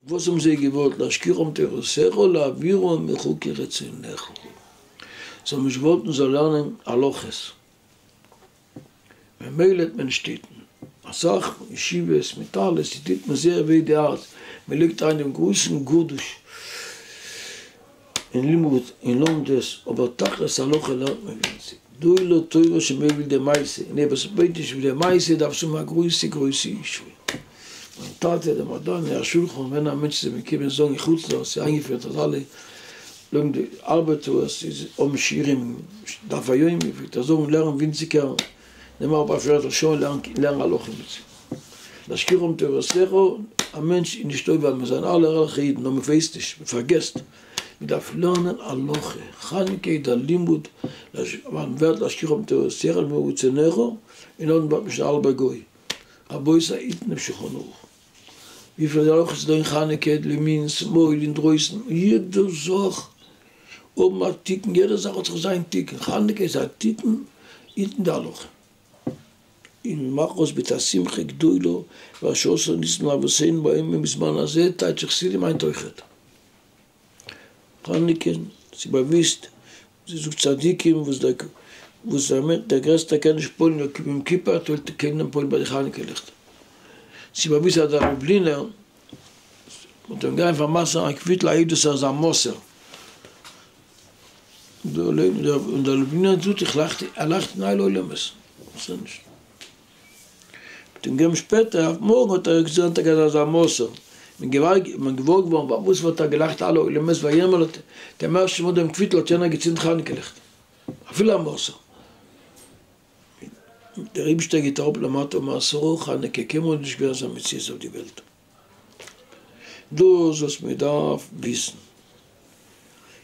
וואס האבן זיי געוואלט? להשכיחם תורתך או להעבירם מחוקי רצונך? זיי האבן נישט געוואלט מען זאל לערנען הלכות, ממילא האט מען נישט געטוהן אסאך ישיבות מיט אלעס, איר טוט מען זייער וועי די הארץ, מען לייגט אריין דעם גרויסן גדוש, אין לימוד אין לומדות אבער תכלית הלכה לערנט מען ווינציג דאהי לא תורה שמעו וויל די מעשה אין איר וואס בעט נישט וויל די מעשה דארף צו האבן א גרויסע גרויסע ישועה מיין טאטע דער מדני השולחן ווען א מענטש איז אים געקומען זאגן אין חוץ לארץ איז איינגעפירט אז אלע לומדי ארבעטארס איז האבן שיעורים דף היומי פלעגט ער זאגן לערן ווינציגער נעם אראפ א פערטל שעה און לערן לערן הלכה מיט זיי. להשכיח אום תורתך, א מענטש איז נישט טוב ווייל מיר זענען אלע ערליכע אידן נאר מען ווייסט נישט, מען פארגעסט. מען דארף לערנען הלכה, חנוכה איז דער לימוד להש ו, ווייל מען ווערט להשכיח אום תורתך ממעוט זעניך, און נאכדעם ווערט מען שוין א האלבער גוי. רבותי, איתנו שולחן ערוך. וויפיל אויך איז דא אין חנוכה די מנין שמאל אינדרויסן יעדע זאך האבן א תיקון יעדע זאך האט זיך זיין תיקון חנוכה איז א תיקון אינטן די הלכה און מאך אויס ביטע א שמחה גדולה ועל שעשה ניסים לאבותינו בימים ובזמן הזה טייטש חסידים היינט אויכעט חנוכה ס'איז באוויסט. זי זאגט צדיקים וואס דער וואס דער מענטש דער גרעסטער קען נישט פועל'ן נאר כיפור יום כיפור טוהט ער קען דען פועל'ן ביי די חנוכה ליכטער. צו באוויזן אז דער לובלינער וועט אים גיין פאר מסר'ן א קוויטל א עדות אז ער איז א מסור. און דער לובלינער זאגט איך לאכט ער לאכט אין הייל עולמות. מיט אים שפעטער אויף מארגן האט ער געזאגט אז ער גייט אזא מעשה מיט געוואלד מיט געוואר געווארן פאר וואס וואלט ער געלאכט אלע עולמות ויאמרט דעם ערשטן מאל דעם קוויטל האט יענער געצינדט חנוכה ליכט אפילו א מעשר מיט דער אייבישטער געט אראפ למטה מעשרו חנוכה קיינמאל איז נישט געווען אזא מציאות אויף די וועלט דאס וואס מען דארף וויסן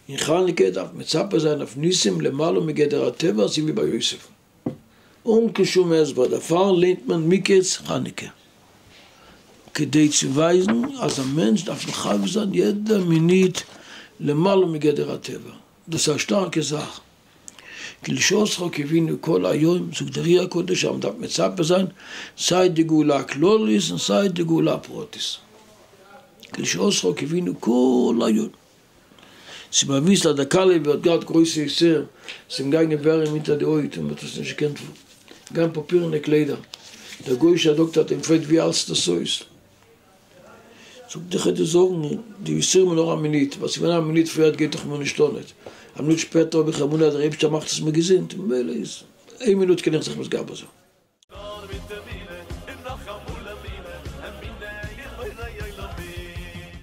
אין חנוכה דארף מצפה זיין אויף ניסים למעלה מגדר הטבע אזוי ווי ביי יוסף. אן קיין שום הסבר דערפאר לערנט מען מקץ חנוכה כדי צו ווייזן אז א מענטש דארף מחבק זיין יעדע מינוט למעלה מגדר הטבע, דאס איז א שטארקע זאך, כי לשאותך קיווינו כל היום, זאגט דער רי הקדוש אז מען דארף מצפה זיין סיי די גאולה הכללית און סיי די גאולה הפרטית, כי לשאותך קיווינו כל היום. ס'איז באוויסט אז דער קאליב האט געהאט גרויסע יסורים, ס'איז אים געגאנגען ווארעם אונטער די הויט און מ'האט עס נישט געקענט גן פאפירענע קליידער, דער גוי'אישער דאקטער האט אים געפרעגט ווי האלסטו דאס אויס? זאגט איך העט דיר זאגן די יסורים נאר א מינוט, ווייל ס'איז געווען א מינוט פריער האט געהעט איך מיר נישט אן, א מינוט שפעטער האב איך אמונה אז דער אייבישטער מאכט עס מיר געזונט, ממילא איז איין מינוט קען איך זיך מתגבר זיין. נאר מיט אמונה און נאך אמאל אמונה, אמונה אין בורא עולמים.